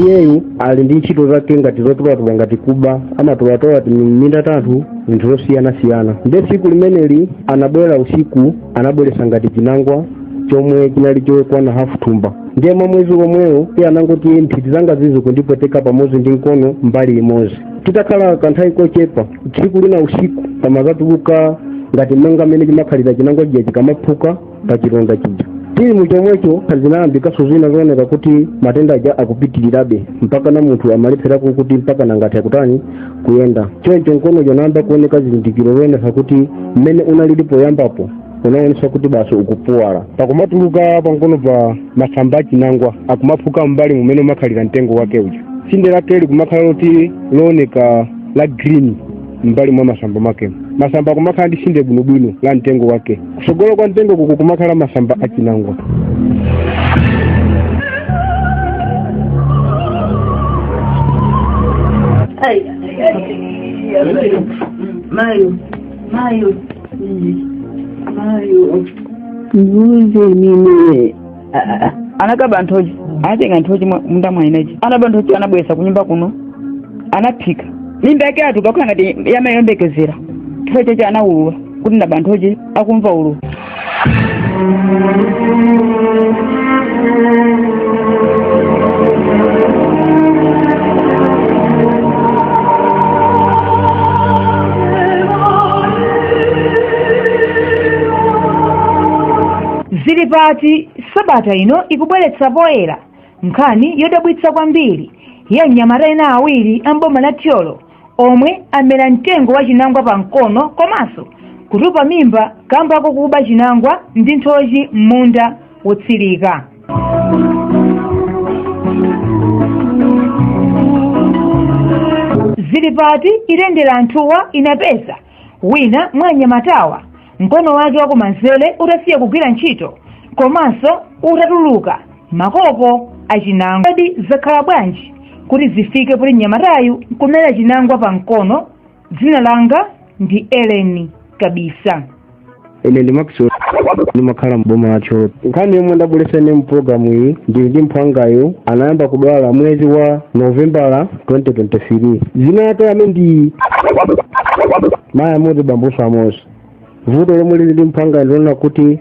iyeyu ali ndi ntchito zake ngati zotolatola ngati kuba amatolatola m'minda tanthu zinthu zosiyanasiyana nde tsiku limeneli anabwera usiku anabweretsa ngati chinangwa chomwe chinali chokwana hafu thumba ndiye mwa mwezi womwewo iye anangoti nthiti zanga zizi kundipweteka pamodzi ndi mkono mbali imodzi titakhala kanthawi kochepa tsiku lina usiku pamazatuluka ngati monga mmene chimakhalira chinangwa chija chikamaphuka pa chilonda chija tili mu chomwecho zinayambikanso zina zooneka kuti matenda aja akupitirirabe mpaka na munthu amalepherako kuti mpaka kungathe kutani kuyenda choncho mkono uja unayamba kuoneka zizindikiro zoonesa kuti mmene unalili poyambapo unaonesa kuti basi ukupuwala pakumatuluka pamkonopa masamba achinangwa akumaphuka m'mbali mmene umakhalira mtengo wake uja tsinde lake likumakhala loti looneka la green m'mbali mwa masamba make masamba akumakhala ndi tsinde bwinobwino la mtengo wake kutsogolo kwa mtengo kukumakhala masamba achinangwa mayo mayo mayo ndiuzeni ine anakaba nthochi anatenga nthochi m'munda mwa eniake anaba nthochi anabweresa kunyumba kuno anaphika mimba yake yatupa kukhala ngati ya mayi oyembekezera chifukwa chochi anawulula kuti ndaba nthochi akumva ululu Zili pati sabata ino ikubweretsa poyera nkhani yodabwitsa kwambiri ya anyamata ena awiri a m'boma la Thyolo omwe amera mtengo wa chinangwa pa mkono komanso kutupa mimba kamba kokuba chinangwa ndi nthochi m'munda wotsirika. Zili pati itayendera anthuwa inapeza wina mwa anyamatawa mkono wake wakumanzere utasiya kugwira ntchito komanso utatuluka makoko achinangwa kodi zakhala bwanji kuti zifike poti mnyamatayu kumera chinangwa pa mkono dzina langa ndi eleni kabisa ine ndi maxwell ndimakhala m'boma la thyolo nkhani yomwe ndabweretsa mu pulogalamu iyi ndili ndi mphwangayu anayamba kudwala mwezi wa novembala 2023 ine ndi iyeyo ndi mayi amodzi bambonso amodzi vuto lomwe lili ndi mphwangayo ndi lonena kuti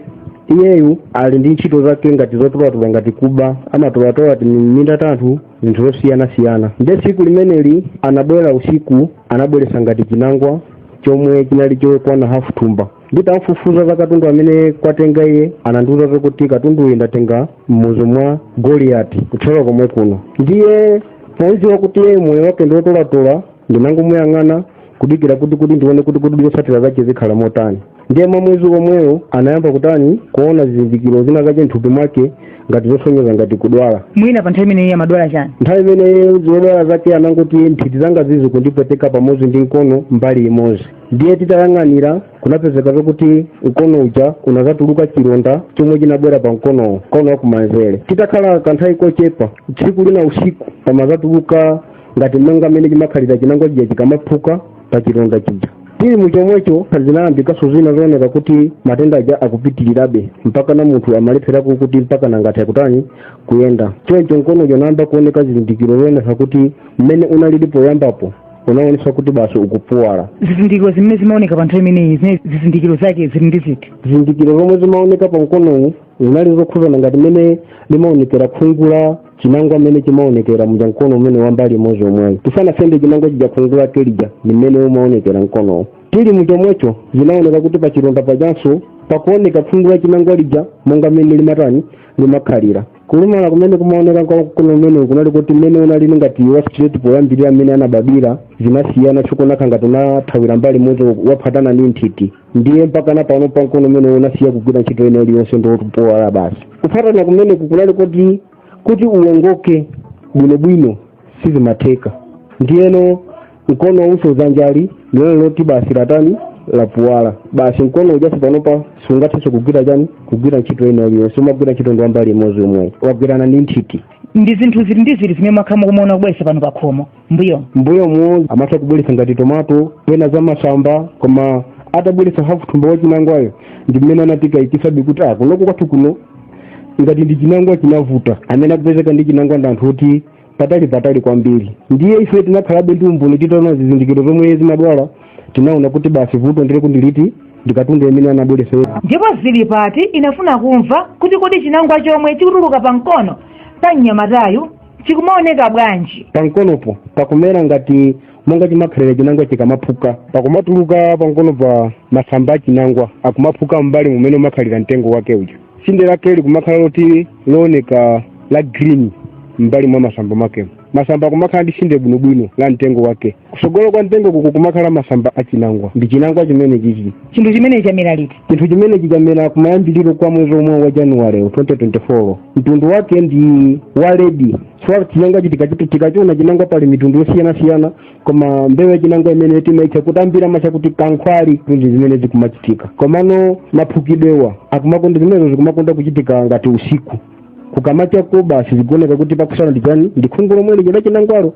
iyeyu ali ndi ntchito zake ngati zotolatola ngati kuba amatolatola m'minda tanthu zinthu zosiyanasiyana nde tsiku limeneli anabwera usiku anabweretsa ngati chinangwa chomwe chinali chokwana hafu thumba nditamfufuza za katundu amene kwatenga iye anandiuza kuti katundu uyu ndatenga mmuzi mwa goliyati kutsidya komwe kuno ndiye podziwa kuti iye moyo wake ndiwotolatola ndinangomuyang'ana kudikira kuti kuti ndione kuti kuti zotsatira zake zikhala motani ndiye mwa mwezi omwewo anayamba kutani kuona zizindikiro zina zake mthupi mwake ngati zosonyeza ngati kudwala mwina pa nthawi imeneyi amadwala chani nthawi imeneyi zodwala zake anangoti nthiti zanga izi zikundipweteka pamodzi ndi mkono mbali imodzi ndiye titayang'anira kunapezeka zokuti mkono uja unazatuluka chilonda chomwe chinabwera pa mkonowo mkono wakumanzere titakhala kanthawi kochepa tsiku lina usiku pamazatuluka ngati monga mmene chimakhalira chinangwa chija chikamaphuka pa chilonda chija tili mu chomwecho zinayambikanso zina zooneka kuti matenda aja akupitirirabe mpakana munthu amalepherako kuti mpakana ngati akutani kuyenda choncho mkono uja unayamba kuoneka zizindikiro zoonesa kuti mmene unalili poyambapo unaonesa kuti basi ukupuwala zizindikiro zimene zimaoneka pa nthawi imeneyi zimene zizindikiro zake zili ziti ziti zizindikiro zomwe zimaoneka pa mkonowu zinali zokhudzana ngati mmene limaonekera khungu la chinangwa mmene chimaonekera muja mkono umenewu wambali imodzi omweyo tisanasende chinangwa chija khungu lake lija ndi mmene umaonekera mkonowo tili mu chomwecho zinaoneka kuti pa chilonda pajanso pakuoneka khungu la chinangwa lija monga mmene limatani limakhalira kulumala kumene kumaoneka kwa mkono umenewu kunali kuti mmene unalili ngati wa straight poyambirira mmene anabadwira zinasiyana chokhotakhota ngati unathawira mbali imodzi waphatana ndi nthiti ndiye mpakana panopa nkono umenewu unasiya kugwira ntchito ina iliyonse ndi woti wapuwala basi kuphatana kumeneku kunali kuti kuti uwongoke bwinobwino sizimatheka ndiyeno mkono uso zanjali ndiyeno loti basi latani lapuwala basi mkono uja basi panopa sungathenso kugwira chani kugwira ntchito ina iliyonse umagwira ntchito ndi wambali imodzi yomweyi wagwirana ndi nthiti ndi zinthu ziti ndi ziti zimene mwakhala mukumaona akubweresa pano pakhomo m'mbuyo m'mbuyomu amatha kubweretsa ngati tomato pena za masamba koma atabweretsa hafu thumba wa chinangwayo ndi mmene anatikayikisabe kuti ah kunoko kwathu kuno ngati ndi chinangwa chinavuta amene akupezeka ndi chinangwa ndi anthu oti patali patali kwambiri ndiye ife tinakhalabe ndi umboni titaona zizindikiro zomwe zimadwala tinaona kuti basi vuto ndileko ndiliti ndi katundu amene anabweretsa yeye ndipo zili pati inafuna kumva kuti kodi chinangwa chomwe chikutuluka pa mkono pa mnyamatayu chikumaoneka bwanji pankonopo pakumera ngati monga chimakhalira chinangwa chikamaphuka pakumatuluka pankonopa masamba achinangwa akumaphuka m'mbali mmene umakhalira mtengo wake uja tsinde lake likumakhala loti looneka la green m'mbali mwa masamba makemo masamba akumakhala ndi tsinde bwinobwino la mtengo wake kusogolo kwa mtengo kukumakhala masamba achinangwa ndi chinangwa chimene chichi chinthu chimene chamera liti chinthu chimene chinamera kumayambiriro kwa mwezi omwe wa januwale 2024 mtundu wake ndi wa ledi chifukwa chinangwachi tikachi tikachiona chinangwa pali mitundu yosiyanasiyana koma mbewu ya chinangwa imene timaitcha kutambira macha kuti kankhwali zinthu zimene zikumachitika komano maphukidwewo akumakonda zimenezo zikumakonda kuchitika ngati usiku kukamachako basi zikuoneka kuti pakusala ndi chani ndi khungu lomwe lija la chinangwalo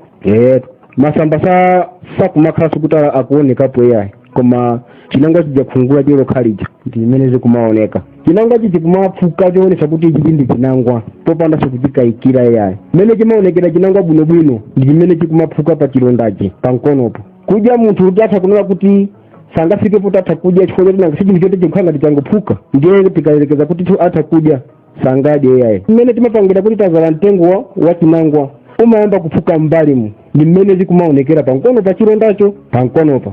masamba sa sakumakhalanso kuti akuonekapo iyayi koma chinangwa chija khungu lachelo lokha lija ndi zimene zikumaoneka chinangwachi chikumaphuka choonesa kuti ichi ndi chinangwa popanda kuchikayikira iyayi mmene chimaonekera chinangwa bwinobwino ndi chimene chikumaphuka pa chilondachi pa mkonopo kudya munthu kuti atha kunena kuti sangafike poti atha kudya chifukwa choti nanga si chinthu choti chikukhala ngati changophuka ndiye tikayerekeza kuti atha kudya sangadye iyayi mmene timapangira kuti tazala mtengo wa- wa chinangwa umayamba kuphuka m'mbalimu ndi mmene zikumaonekera pamkono pa chilondacho pamkonopa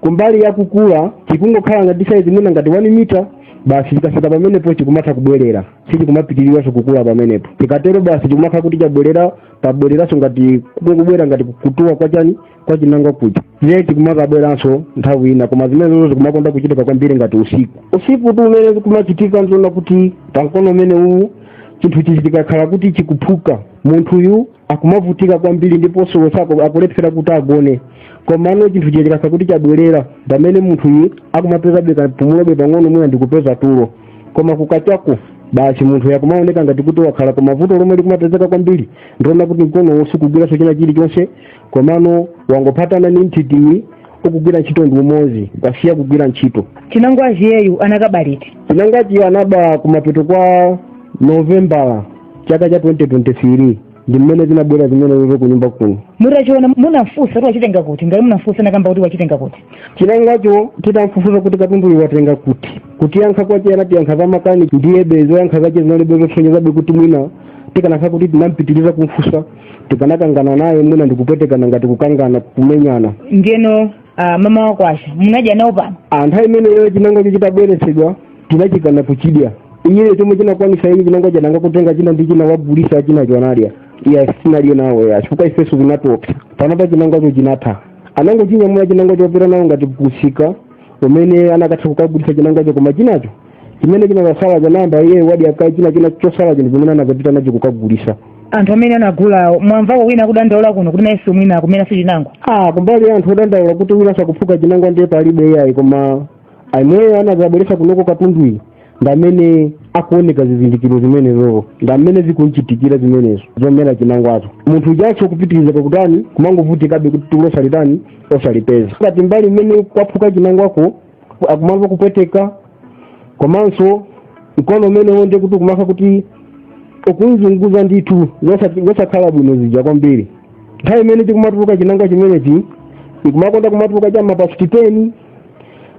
kumbali ya kukula chikungokhala ngati saizi mwina ngati 1 mita basi chikafika pamenepo chikumatha kubwerera sichikumapitiriranso kukula pamenepo chikatero basi chikumakhala kuti chabwerera pabwereranso ngati kubwera ngati kutuwa kwa chani kwa chinangwa kuja ndiye chikumadzabweranso nthawi ina koma zimenezo zikumakonda kuchitika kwambiri ngati usiku usikutu umene zikumachitika nzonena kuti pamkono umene uwu chinthu chija chikakhala kuti chikuphuka munthuyu akumavutika kwambiri ndiponso usiku akulephera kuti agone komano chinthu chija chikakhala kuti chabwerera pamene munthuyu akumapezabe kapumulobe pang'ono mwina ndikupeza tulo koma kukachako basi munthuyu akumaoneka ngati kuti wakhala koma vuto lomwe likumapezeka kwambiri ndi lonena kuti mkonowu sukugwiranso china chilichonse komano wangophatana ndi nthitiyi ukugwira ntchito ndi umodzi wasiya kugwira ntchito chinangwachi iyeyu anakaba liti chinangwachi anaba kumapeto kwa novembala chaka cha 2023 ndi mmene zinabwera zimenezo ku nyumba kuno mutachiona munamfunsa kuti wachitenga kuti ngati munamfunsa nakamba kuti wachitenga kuti chinangwacho titamfufuza kuti katunduyu watenga kuti kutiyankha kwache anatiyankha za makani ndiyebe zoyankha zache zinalibe zosonyezabe kuti mwina tikanakhala kuti tinampitiriza kumfunsa tikanakangana naye mwina ndikupwetekana ngati kukangana kumenyana ndiyeno mama wakwacha munadya nawo pano nthawi imeneyo chinangwacho chitabweretsedwa tinachikana kuchidya iyeyo chomwe chinakwanisa iye chinangwacho anangotenga china ndi china wagulisa chinacho anadya iye sitinadye nawo ayi chifukwa ifeso zinatopsa panopa chinangwacho chinatha anangochinyamula chinangwacho wapita nawo ngati kusika umene anakatha kukagulisa chinangwacho koma chinacho chimene chinazasala anayamba iye wadya kaye china china chosala chinthu chimene anazapita nacho kukagulisa anthu amene anagulawo mwamvako wina akudandaula kuno kuti nayeso mwina akumeraso chinangwa ah kumbali ya anthu odandaula kuti winaso akuphuka chinangwa ndiye palibe iyayi koma amene anazabweresa kunoko katunduyi ndamene akuoneka zizindikiro zimenezo ndamene zikunchitikira zimenezo zomera chinangwazo munthu ujaso kupitiriza kwakutani kumangovutikabe kuti tulo osalitani osalipeza ngati mbali imene kwaphuka chinangwako akumamva kupweteka komanso mkono umenewo ndiye kuti ukumakha kuti ukumzunguza ndithu zosa- zosakhala bwino zija kwambiri nthawi imene chikumatuluka chinangwa chimenechi ikumakonda kumatuluka cha mapasiti teni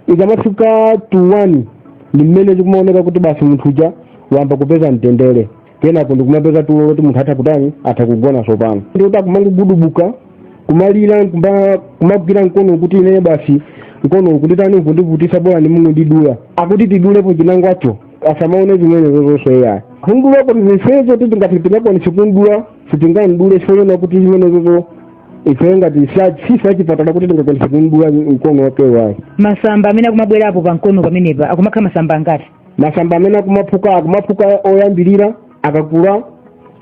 ikamafika tu wani ndi mmene zikumaoneka kuti basi munthu uja wayamba kupeza mtendere kenako ndikumapeza tulo loti munthu atha kutani atha kugona sopano ndikuti akumangogudubuka kumalira kumba- kumagwira mkono kuti ine basi mkono ukunditani ukundivutisa bolani mungondidula akuti tidulepo chinangwacho asamaone zimenezo zonse iya kumdulako tizifezo ti tingati tingakwanise kumdula sitingamdule chifukwa chona kuti zimenezozo ife ngati sa- sife achipatala kuti tingakwanise kumdula mkono wake wayi masamba amene akumabwerapo pa mkono pamenepa akumakhala masamba angati masamba amene akumaphuka akumaphuka oyambirira akakula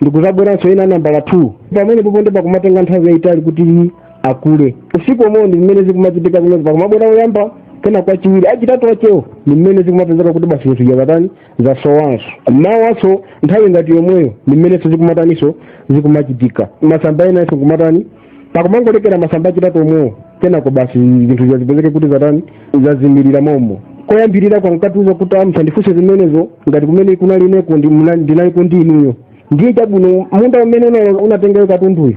ndikuzabweranso ena nambala 2 pamenepopo nde pakumatenga nthawi yayitali kuti akule usiku omwewo ndi mmene zikumachitika zimene pakumabwera oyamba kenako achiwiri achitatu achewo ndi mmene zikumapezeka kuti basi zinthu zakatani zasowanso mmawanso nthawi ngati yomweyo ndi mmenenso zikumataninso zikumachitika masamba enanso kumatani pakumangolekera masamba achitatu omwewo kenako basi zinthu zazipezeke kuti zatani zazimirira momo koyambirirako ankatiuza kuti a musandifunse zimenezo ngati kumene kunali ineko ndi- muna- ndinaliko ndi inuyo ndiye chabwino munda umene una- unatengayo katunduyo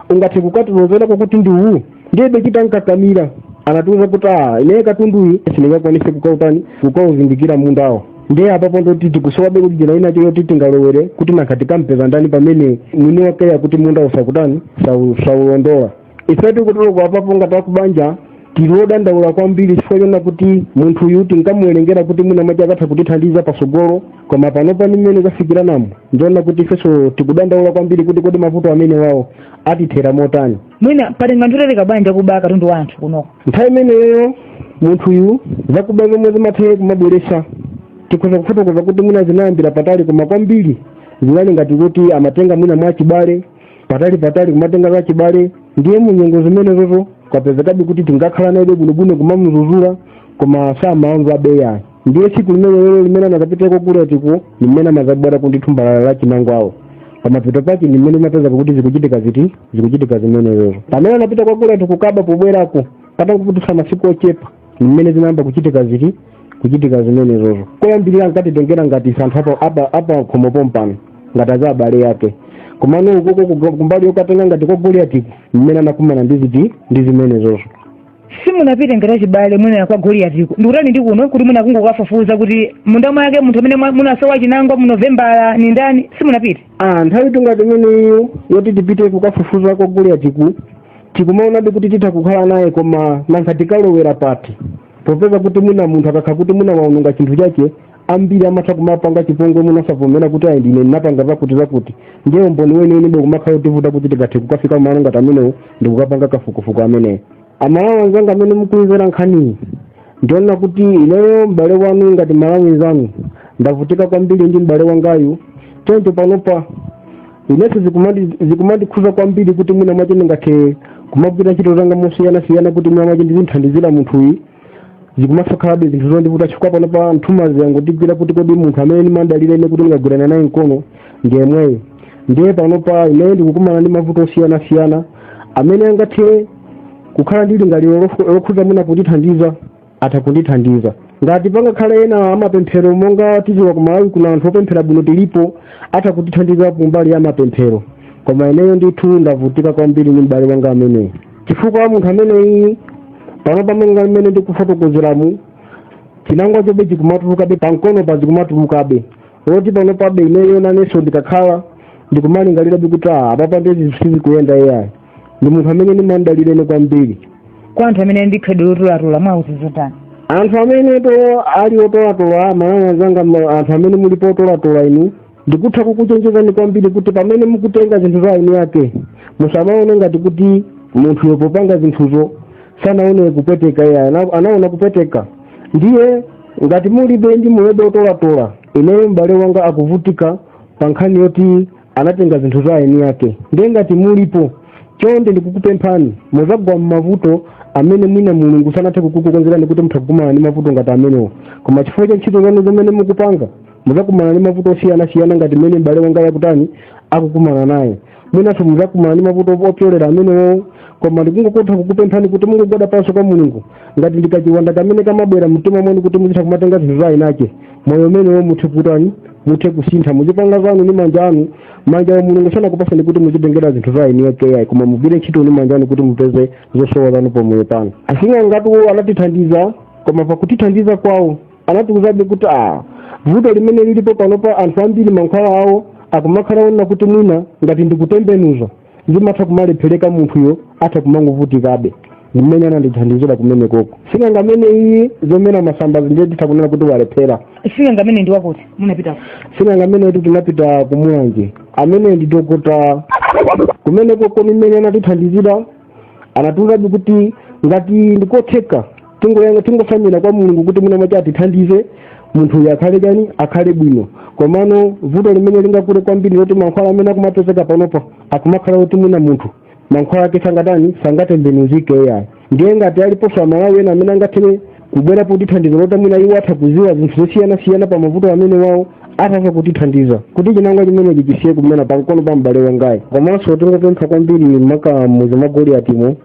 ungathe kukatilozerako kuti ndi uwu ndiye bechita nkakamira anatiuza kuti a ineyo katunduyu sindingakwanise kukautani kukauzindikira mundawo ndiye apapo ndoti tikusowabe kuti njira inayo yoti tingalowere kuti nanga tikampeza ndani pamene mwini wake akuti mundawu sakutani sau- saulondola ife tikutuluka apapo ngati akubanja tilodandaula kwambiri chifukwa chona kuti munthu uyu tinkamuwerengera kuti mwina mwache akatha kutithandiza pasogolo koma panopa ndi mmene zafikiranamo ndiona kuti ifenso tikudandaula kwambiri kuti kodi mavuto amenewawo atithera motani mwina patenga nthawi yaitali bwanji akuba katundu wa anthu kunoko nthawi imeneyo munthuyu zakuba zomwe zimathawe kumabweretsa tikhoza kufotokoza kuti mwina zinayambira patali koma kwambiri zinali ngati kuti amatenga mwina mwa achibale patali patali kumatenga za achibale ndiye munyengo zimenezozo kwapezekabe kuti tinkakhala naye bwinobwino kumamuzuzula koma samamvabe ayi ndiye tsiku limenelo limene anakapita kwa Goliatiko limene anazabwerako ndi thumba la la chinangwawo pamapeto pake ndi mmene amapeza kuti zikuchitika ziti zikuchitika zimenezo pamene anapita kwa Goliati kukaba pobwerako patangodutsa masiku ochepa ndi mmene zinayamba kuchitika ziti kuchitika zimenezozo koyambirira ankatitengera ngati za anthu apa- apa- apa khomo pompano ngati za abale ake komano ukoko kumbali yokatenga ngati kwa Goliatiku mmene anakumana ndi ziti ndi zimenezozo simunapite ngati achibale mwina kwa goliyatiko ndikutani ndi kuno kuti mwina kungokafufuza kuti munda mwake munthu amene mwa- munasowa chinangwa mu novembala ni ndani simunapite ah nthawi tingati imeneyo yoti tipite kukafufuza kwa goliyatiku tikumaonabe kuti titha kukhala naye koma nanga tikalowera pati popeza kuti mwina munthu akakhala kuti mwina waononga chinthu chake ambiri amatha kumapanga chipongwe mwina osavomera kuti ayi ndine ndinapanga zakuti zakuti ndiye umboni weniweni ukumakhala utivuta kuti tikathe kukafika kumalo ngati amenewo ndikukapanga kafukufuku ameneyo amalawi anzanga amene mukuimvera nkhaniyi ndiona kuti ineyo m'bale wanu ngati mmalawi nzanu ndavutika kwambiri ndi m'bale wangayu choncho panopa inenso zikumandi- zikumandikhuza kwambiri kuti mwina mwache ndingathe kumagwira ntchito zanga mosiyanasiyana kuti mwina mwache ndizinthandizira munthuyi zikumasakhalabe zinthu zondivuta chifukwa panopa nthumazi yangotigwira kuti kodi munthu amene ndimandalira ine kuti ndikagwirana naye mkono ndi yemweyo ndiye panopa ineyo ndikukumana ndi mavuto osiyanasiyana amene angathe kukhala ndi lingaliro lofu- lokhuza mwina kundithandiza atha kundithandiza ngati pangakhale ena amapemphero monga tiziwa ku malawi kuna anthu opemphera bwino tilipo atha kutithandiza kumbali ya mapemphero koma ineyo ndithu ndavutika kwambiri ndi m'bale wanga ameneyo chifukwa munthu ameneyi panopa monga mmene ndikufotokozeramu chinangwa chobe chikumatulukabe pamkonopa chikumatulukabe oti panopabe ineyo nanenso ndikakhala ndikumalingalirabe kuti ah, apapa nde zi sizikuyenda iyayi ndi munthu amene ndimamdalira ine kwambiri kwa anthu amene ndi khalidwe lotolatola mwawauza zotani anthu amene to ali otolatola amalawi anzanga ma- anthu amene mulipo otolatola inu ndikutha kukuchenjezani kwambiri kuti pamene mukutenga zinthu za eni ake musamaone ngati kuti munthuyo popanga zinthuzo sanaone kupweteka iye ana- anaona kupweteka ndiye ngati mulibe ndi mulipobe otolatola ineyo m'bale wanga akuvutika pa nkhani yoti anatenga zinthu za eni ake ndiye ngati mulipo chonde ndikukupemphani muzagwa m'mavuto amene mwina mulungu sanathe kukukonzerani kuti mutha kukumana ndi mavuto ngati amenewo koma chifukwa cha ntchito zanu zimene mukupanga mudzakumana ndi mavuto osiyanasiyana ngati mmene m'bale wangayu akutani akukumana nawo mwinanso mudzakumana ndi mavuto opyolera amenewo koma ndikungokotha kukupemphani kuti mungogwada pansi kwa mulungu ngati ndikachiwanda kamene kamabwera mumtima mwanu kuti muzitha kumatenga zinthu za eni ake moyo umenewo muthe kutani muthe kusintha muzipanga zanu ndi manja anu manjawa mulungu sanakupatseni kuti muzitengera zinthu za eni ake koma mugwire ntchito ndi manja anu kuti mupeze zosowa zanu pamoyo panu asing'angatu anatithandiza koma pakutithandiza kwawo anatiuzabe kuti a vuto limene lilipo panopa anthu ambiri mankhwala awo akumakhala ona kuti mwina ngati ndikutembenuza zimatha kumalephereka munthuyo atha kumangovutikabe mmene anandithandizira kumene koko sing'anga amene iye zomera masambazi ndiye titha kunena kuti walephera sing'anga amene ndi wakuti munapita sing'anga ameneyutu tinapita kumulanje amene ndi dokotala kumene koko mmene anatithandizira anatiuzabe kuti ngati ndikotheka tingotsamira kwa mulungu kuti mwina mwake atithandize munthuyu akhale chani akhale bwino komano vuto limene lingakule kwambiri loti mankhwala amene akumapezeka panopa akumakhala kuti mwina munthu mankhwala ake sangatani sangatembenuzike yayi ndiye ngati aliponso amalawi ena amene angathe kubwera kutithandiza loti mwina iwo atha kuziwa zinthu zosiyanasiyana pa mavuto amenewawo atha kutithandiza kuti chinangwa chimenechi chisiye kumena pankono pa m'bale wangayu komanso tingopempha kwambiri maka muzi mwa goliyatimo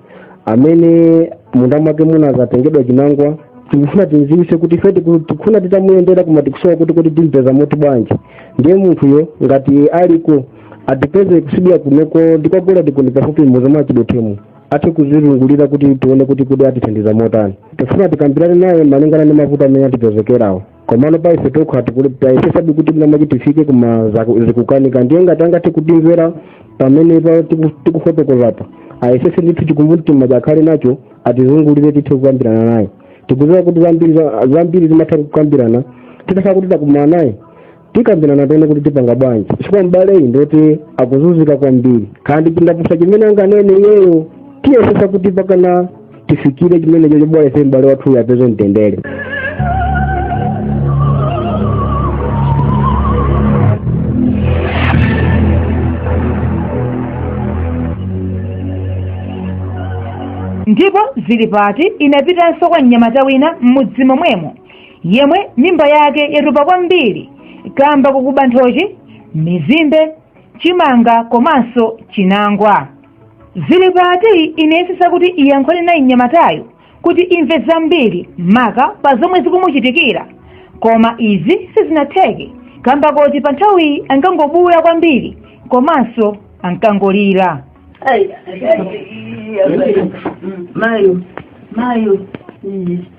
amene munda mwake munazatengedwa chinangwa tikufuna timziwise kuti ife tiku- tikufuna titamuyendera koma tikusowa kuti timpeza motibwanji ndiye munthuyo ngati aliko atipeze kusibira kunoko ndi kwa goliyati kuno pafupi muzi mwa chidotemo athe kutizungulira kuti tione kuti kodi atithandiza motani tifuna tikambirane naye malingana ndi mavuto amene atipezekerawo komano pa ife tokha tayesesabe kuti mwina mwake tifike koma zaku- zikukanika ndiye ngati angathe kutimvera pamenepa tiku- tikufotokozapa ayesese ndithu chikumbumtima akhale nacho atizungulire tithe kukambirana naye tikuziwa kuti zambiri za- zambiri zimatha kukambirana titakhala kuti takumana naye tikambirana tione kuti tipanga bwanji chifukwa m'baleyu ndi woti akuzunzika kwambiri kaya ndi chindapusa chimene anganene iyeyo tiyesesa kuti pakana tifikire chimenecho bola ife m'bale wathuyo apeze mtendere ndipo zilipati inapitanso kwa mnyamata wina m'mudzi momwemo yemwe mimba yake yatupa kwambiri kamba kokuba nthochi mizimbe chimanga komanso chinangwa zilipati inayesesa kuti iyankhule naye mnyamatayo kuti imve zambiri maka pa zomwe zikumuchitikira koma izi sizinatheke kamba koti pa nthawiyi ankangobuula kwambiri komanso ankangolira Ai, ai, ai, ai, ai, ai. Mayo, mayo. Mm.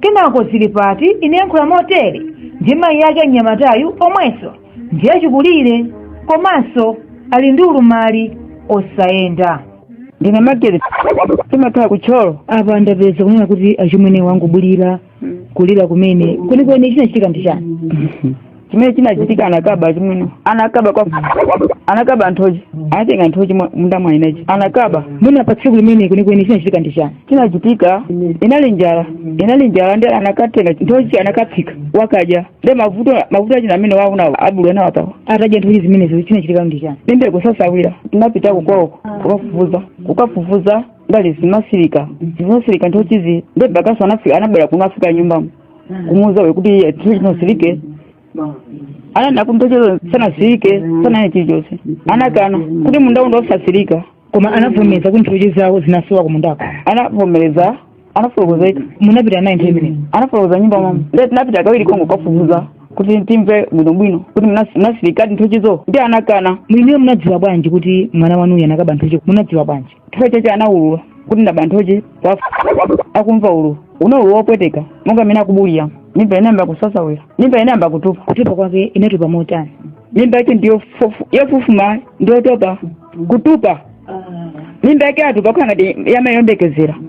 kenako zilipati inayankhula motere ndi mayi yake mnyamatayu omwenso ndi achikulire komanso ali ndi ulumali osayenda ndine magere timakhala ku thyolo apa ndapeza kunena kuti achimwene angobuula kulira kumene kwenikweni chinachitika ndi chani chimene chinachitika anakaba chimwene anakaba kwa anakaba nthochi anatenga nthochi mwa- munda mwa inechi anakaba mwina pa tsiku limene kwenikweni chinachitika ndi chani chinachitika inali njala inali njala ndi anakatenga nthochi anakaphika wakadya ndi mavuto mavuto ake ndi amene mwawaona achimwenewa pawa atadya nthochi zimenezo chinachitika ndi chani ndi mbeko sasawira tinapita kukwawoko kukafufuza kukafufuza ndali zimasirika zimasirika nthochizi ndi abakaso anafika anabwera kuno afika nyumbamo kumuuza we kuti nthochi zosirika ananena kuti nthochizo sanasirike sanane chilichonse anakana kuti munda uno osasirika koma anavomereza kuti nthochi zawo zinasowa kumundako anavomereza anafotokozeka munapita naye nthawi imeneyi anafotokoza nyumba mama ndiye tinapita kawiri kongokafufuza kuti timve bwinobwino kuti mnas- mnasirikadi nthochizo ndiye anakana mwiniyo munadziwa bwanji kuti mwana wanuyo anakaba nthochi munadziwa bwanji chifukwa chache anaulula kuti ndaba nthochi akumva ululu unaululu wopweteka monga amene akubulira mimba inayamba kusasawira mimba inayamba kutupa kutupa kwake inatupa motani mimba yake ndiyo fufu- yofufuma ndiyotupa kutupa mimba yake atupa kukhala ngati ya mayi oyembekezera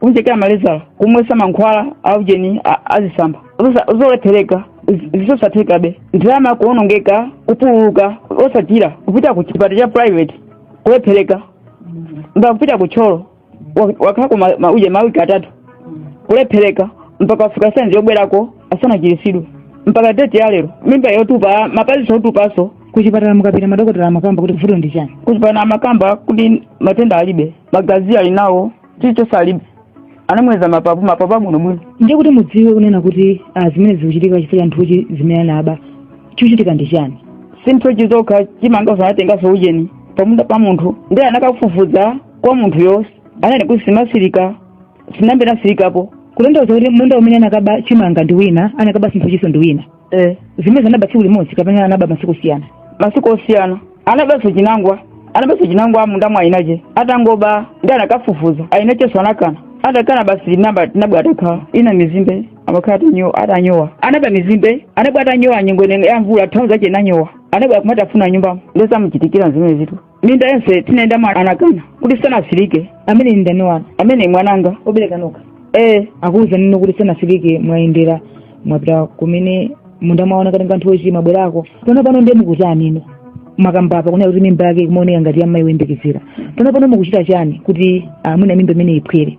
kumchekera malezala kumwesa mankhwala aujeni azisamba zolephereka zosathekabe ndalama kuonongeka kupululuka osachira kupita ku chipatala cha private kulephereka mpaka kupita ku Thyolo wakhalako ujeni mawiki atatu kulephereka mpaka afika sayizi yobwerako asanachirisidwe mpaka deti ya lero mimba yotupa mapaziso otupaso kuchipatala mukapita madokotala amakamba kuti vuto ndi chani kuchipatala amakamba kuti matenda alibe magazi ali nawo chilichonse alibe anamuyeza mapapu mapapu abwinobwino ndiye kuti mudziwe kunena kuti ah, zimene zikuchitika chifukwa cha nthochi zimene anaba chikuchitika ndi chani si nthochi zokha chimangaso anatengaso ujeni pamunda pa munthu ndiye anakafufuza kwa munthuyoso ananena kuti simasirika sinambe nasirikapo kutanthauza kuti munda umene anakaba chimanga ndi wina anakaba nthochiso ndi wina eh zimenezi anaba tsiku limodzi kapena anaba masiku osiyana masiku osiyana anabanso chinangwa anabanso chinangwa munda mwa ayinache atangoba ndiye anakafufuza ayinachenso anakana atakana basi namba nabwa atakhala ina mizimbe amakhala atanyowa atanyowa anaba mizimbe anabwa atanyowa nyengo ino ya mvula thalauza ache nanyowa anabwa kumatafuna nyumba nde zamuchitikira zimenezitu minda yonse tinayendamo anakana kuti sanasirike amene ndi ndani wanu amene mwananga obereka nokha ee akuwuzani inu kuti sanasirike mwayendera mwapita kumene munda mwaona katenga nthochi mwabwerako pano pano ndiye mukutani inu mwakamba apa kunena kuti mimba yake kumaoneka ngati yammayi woyembekezera pano pano mukuchita chani kuti mwina mimba imene iphwere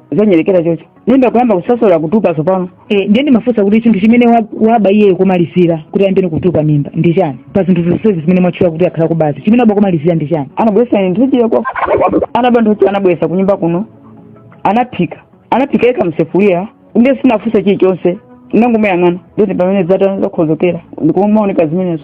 zonyerekera chocho nenda kuyamba kusosola kutupa tsopano Eh, ndiye ndimafunsa kuti chinthu chimene wa- waba iyeyo komalizira kuti ayambeni kutupa mimba ndi chani pa zinthu zonsezi zimene mwatchula kuti akhala kubazi chimene waba komalizira ndi chani anabwesa nthochi ya kwa anaba nthochi anabwesa kunyumba kuno anaphika anaphika yekha m'sefuliya ndiye sinafunsa chilichonse nangomuyang'ana ndoti pamene zata zakhozokera ndikumaoneka zimenezo